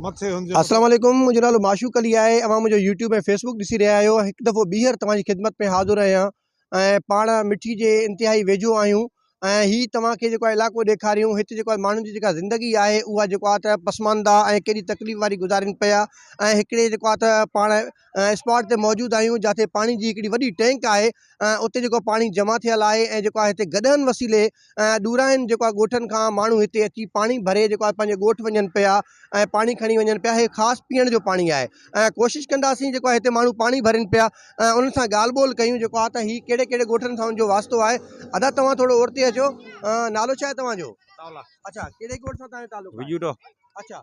السلام عليڪم منهنجو نالو معشوق علي آهي اوهان منهنجو يوٽيوب ۽ فيسبوڪ ڏسي رهيا آهيو هڪ دفعو ٻيهر توهان جي خدمت ۾ حاضر آهيان ۽ پاڻ مٺي جي انتهائي ويجهو آهيون ۽ هي توهان کي جيڪو آهي علائقو ڏيکاريون هت جيڪو آهي ماڻهن جي جيڪا زندگي آهي اها جيڪو آهي ته پسمانده ۽ ڪيڏي تڪليف واري گذارين پيا ۽ هڪڙي جيڪو آهي ته پاڻ اسپاٽ تي موجود آهيون جاتي پاڻي جي هڪڙي وڏي ٽينڪ آهي اتي جيڪو آهي پاڻي جمع ٿيل آهي ۽ جيڪو آهي هتي گڏهن وسيلي ڏورانهين جيڪو آهي ڳوٺن کان ماڻهو هتي اچي پاڻي ڀري جيڪو آهي پنهنجي ڳوٺ وڃن پيا ۽ پاڻي کڻي وڃن پيا هي خاص پيئڻ جو پاڻي آهي ۽ ڪوشش ڪنداسين جيڪو آهي هتي ماڻهو پاڻي ڀرين پيا ۽ انهن سان ڳالهه ٻولهه ڪيون جيڪو آهي ته هي ڪهڙي ڪهڙي ڳوٺن سان ان جو واسطو آهي ادا توهان ٿورو اورتي اچو نالو ڇا آهي توهان جو اچا ڪهڙي ڳوٺ سان توهان جو تعلق آهي اچا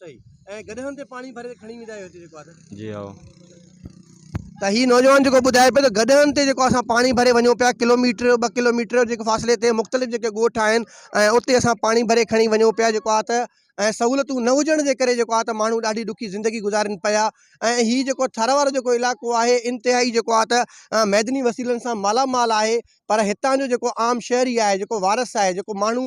صحيح ۽ گڏهن تي پاڻي ڀري کڻي ويندا آهيو هتي جيڪو آهي ته جي هائو ته هي نوجوان جيڪو ٻڌائي پيو ته گڏهن تي جيڪو اسان پاڻي ڀري وڃون پيا ڪلوميٽر ٻه ڪلوميٽر جيڪو فاصلي تي مختلف جيڪي ڳوٺ آهن ۽ اتي اسان پاڻي ڀري کڻي وڃون پيا جيڪو آهي ته ۽ سهولتون نه هجڻ جي ڪري جيڪو آهي ته ماڻهو ڏاڍي ڏکي زندگي گذارين پيا ۽ هي جيڪو ٿر وارو جيڪو علائقو آهي انتهائي جيڪو آهي ته معدني وسيلن سان مالامال آهي پر هتان جو جيڪو عام شهري آهي جيڪو وارث آهي جيڪو ماڻهو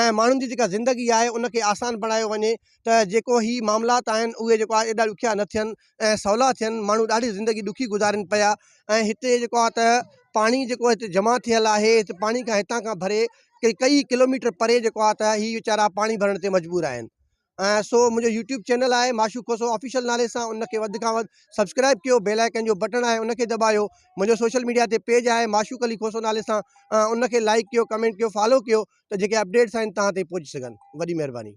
۽ ماڻهن جي جيڪا زندگي آهي ان کي آسان بڻايو وڃي ته جيڪو هي معاملات آهن اهي جيڪو آهي ايڏا ڏکيا نه ٿين ۽ سولا ٿين ماڻهو ڏاڍي زندگي ڏکي گذارين پيا ۽ هتي جيڪو آهي ته پاڻي جيڪو هتي جمع ٿيل آهي هتي پاڻي کان هتان کان ڀري ڪئي ڪلوميٽر پري جيڪو آهي ته هي ويچارا پاڻي ڀرڻ تي مجبور آهن ۽ سو منهنجو يوٽيوب چينل آهي معشوق کوسو آفيشل نالي سان ان کي وڌ کان وڌ سبسڪرائب ڪيو بيل آئڪن جو بٽڻ آهي ان کي دٻايو منهنجو سوشل ميڊيا تي پيج آهي معشوق علي کوسو نالي سان ان کي لائڪ ڪيو ڪمينٽ ڪيو فالو ڪيو ته جيڪي اپڊيٽس آهن تهان تائين پهچي سگهن وڏي مهرباني